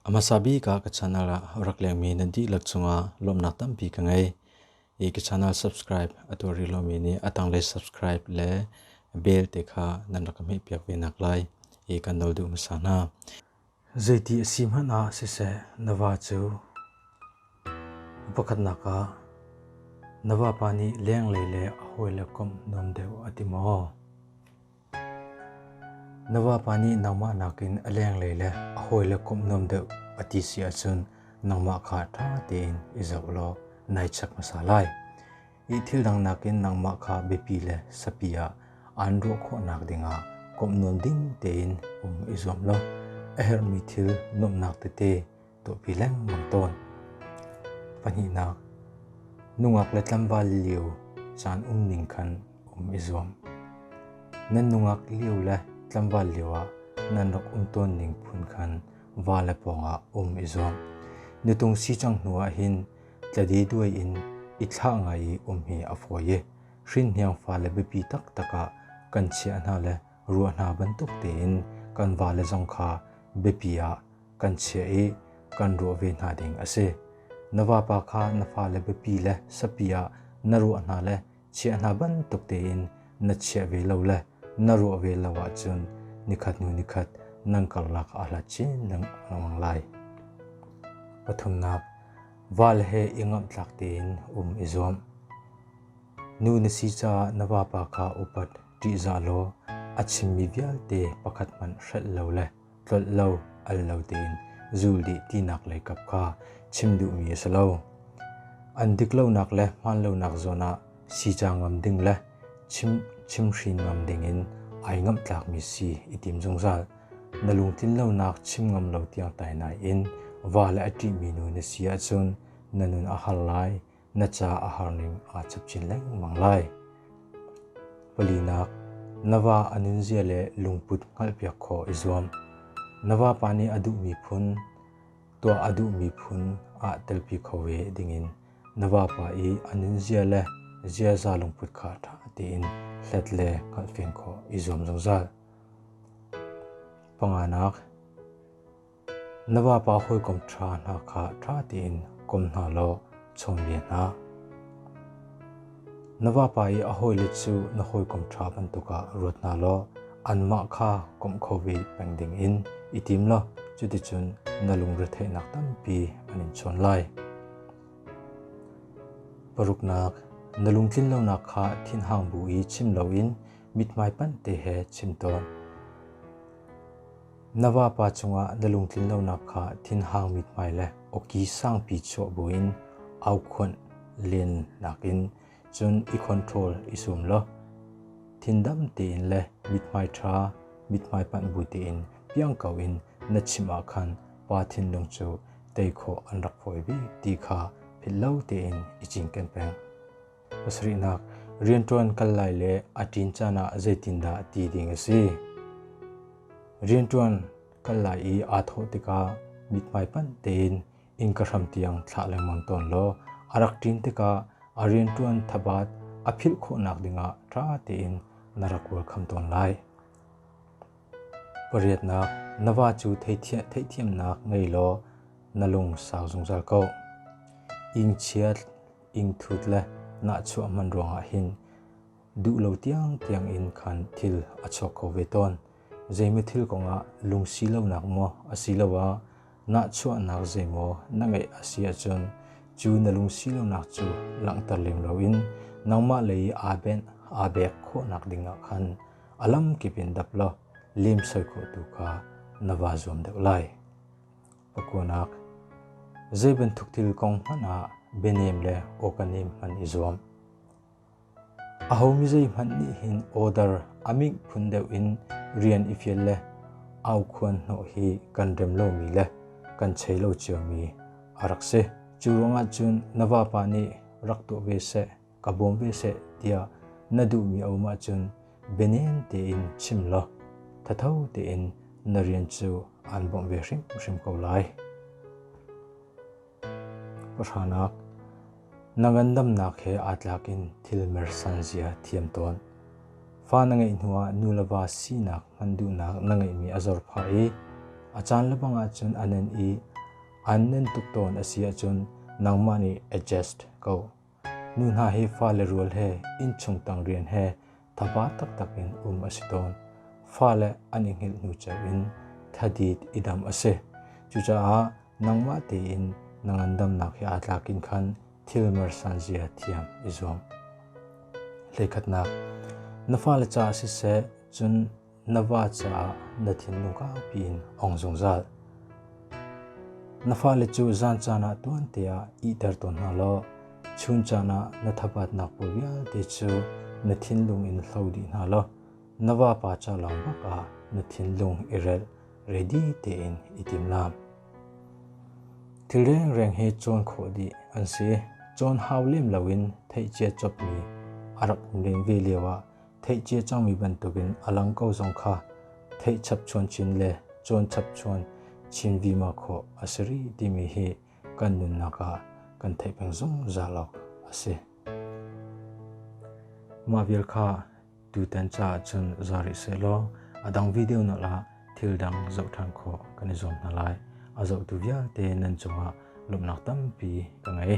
A hmasa bik ah ka channel ah rak lengmi nan dihlak cungah lawmhnak tampi ka ngei. I ka channel subscribe a tuar rih lomi nih a tanglei subscribe le bell te kha nan rak ka hmehpiak ve nak lai i kan nol duh hmasa hna. Zeiti a si hmanh ah siseh na va cu upakhatnak ah na vapa nih lenglei le a hawile komh nuam deuh a ti maw? Na vapa nih nangmah nakin a lenglei le a hawile komh nuam deuh a ti si ahcun nangmah kha ṭha tein i zoh law nai check hmasa lai. i thildang nakin nangmah kha biapi le sapi ah aan ruah khawhnak dingah komh nuam ding tein um i zuam law a herhmi thil nuamhnak tete tuahpi lengmang tawn. Pahnihnak, nungak le tlambal lio caan um ning khan um i zuam. Nan nungak lio le tlambal lio ah nan rak um tawn ning phun khan va le pawngah um i zuam. Nutung si cang hnu ah hin Tladeduai in i thlah ngai i um hi a fawi i hrinhniang fale biapi taktak ah kan chiah hna le ruah hna bantuk tein kan vale zong kha biapi ah kan chiah i kan ruah ve hna ding a si. Na vapa kha na fale biapi le sapi ah na ruah hna le chiah hna bantuk tein na chiah ve lo le na ruah ve lo ahcun nikhat hnu nikhat nan karlak ah hlat chin lengmang lai. Pathumnak, val he i ngamhtlak tein um i zuam. Nu na si caah na vapa kha upat ṭihzah law a chimmi vialte pakhat hmanh hrelh lo le tlolh lo al lo tein zul dih tinak lei kap kha chim duhmi a si lo. An dik lonak le hmaan lonak zawn ah sica ngam ding le chim chimhrin ngam ding in ai ngamhtlakmi si i tim zungzal. Na lungtlin lonak chim ngam lo tiang tai nai in va le a ṭihmi nu na si ahcun na nun a har lai. na ca a har ning aa chap chin lengmang lai. Palinak, na va a nunzia le lungput hngalhpiak khawh i zuam. Na vapa nih a duhmi phun, tuah a duhmi phun ah telpi kho ve dingin na vapa i a nunzia le ziaza lungput kha ṭha tein hlet le hngalhfian khawh i zuam zungzal. Panganak, Na vapa hawikom ṭha hna kha ṭha tein kom hna law chawnbia hna. Na vapa i a hawile cu na hawikom ṭha bantukah ruat hna law anmah kha komh kho ve peng dingin i tim law cuticun na lungretheihnak tampi an in chawn lai. Paruknak, na lungtlinlonak kha thinhang bu i chim loin mithmai pante he chim tawn. Na vapa cungah na lungtlin lonak kha thinhangmi hmai le awki sangpi chuah buin aukhuanh len nakin cun i control i sum law thindam tein le mithmai ṭha mithmai panh bu tein piangko in na chim ah khan pa thinlung cu tei khawh an rak fawi ve ti kha philhlo tein i cinken peng. pasarihnak rianṭuan kal lai le a ṭin caan ah zeitindah ti ding a si. Rianṭuan kal lai i aa thawh tikah mithmai panh tein innka hram tiang thlah lengmang tawn law a rak ṭin tikah a rianṭuan thabaat a philh khawhnak dingah ṭha tein na rak welcome tawn lai. Pariatnak, na va cu theithiamnak ngei law na lung sau zungzal ko. Ingchiat ingthut le nahchuah hman ruangah hin duh lo tiangtiang in khan thil a chuak kho ve tawn. Zeimaw thil kongah lungsi lonak maw asiloah nahchuahnak zeimaw na ngeih a si ahcun cu na lungsi lonak cu langhter lem loin nangmah lei aa benh aa bek khawhnak dingah khan a lamkip in dap law lemsoi khawh tu kha na va zuam deuh lai. a kuanak. Zei bantuk thil kong hmanh ah bianem le awkanem hman i zuam. Ahomi zei hmanh nih hin order aming phun deuh in rian i fial le au khuan hnawh hi kan rem lomi le kan chei lo ciomi a rak si. Cu ruangah cun na vapa nih rak tuah ve seh. ka bawm ve seh tiah na duhmi a um ahcun bianem tein chim law thatho tein na rian cu aan bawmh ve hrimhrim ko lai. Pahranak, na ngandamnak he aa tlakin thil mersan zia thiam tawn. Fa na ngeih hnuah nu le va sinak hman duhnak na ngeihmi a zor phah i a caan le bang ahcun a nen i an nen tuk tawn a si ahcun nangmah nih adjust ko. Nu hna hi fale rual he innchung tang rian he thapa taktak in um a si tawn. Fale an i hngilh hnu cio in thadit i dam a si. Cucaah nangmah tein na ngandamnak hi aa tlak in khan thil mersan zia thiam i zuam. Lekhatnak Na fale ca siseh, cun Na va caah na thinlung kaupi in ong zungzal. Na fale cu zan caan ah tuante ah ihter tawn hna law chun caan ah na thapatnak pawl vialte cu na thinlung in hlo dih hna law na vapa ca lawng bak ah na thinlung i rel ready tein i tim lam. Thilreng reng he cawn khawh dih an si. Cawn hau lem loin theihcia chopmi a rak len ve lio ah theih cia cangmi bantukin a lang ko zong kha theih chapchuan chin le cawn chapchuan chin vima khawh a si rih timi hi kan nunnak ah kan theih peng zungzal awk a si. Mah vial kha tutan ca cun zari se law a dang video na la thil dang zoh ṭhan khawh kan i zuam hna lai. A zohtu vialte nan cungah lawmhnak tampi ka ngei.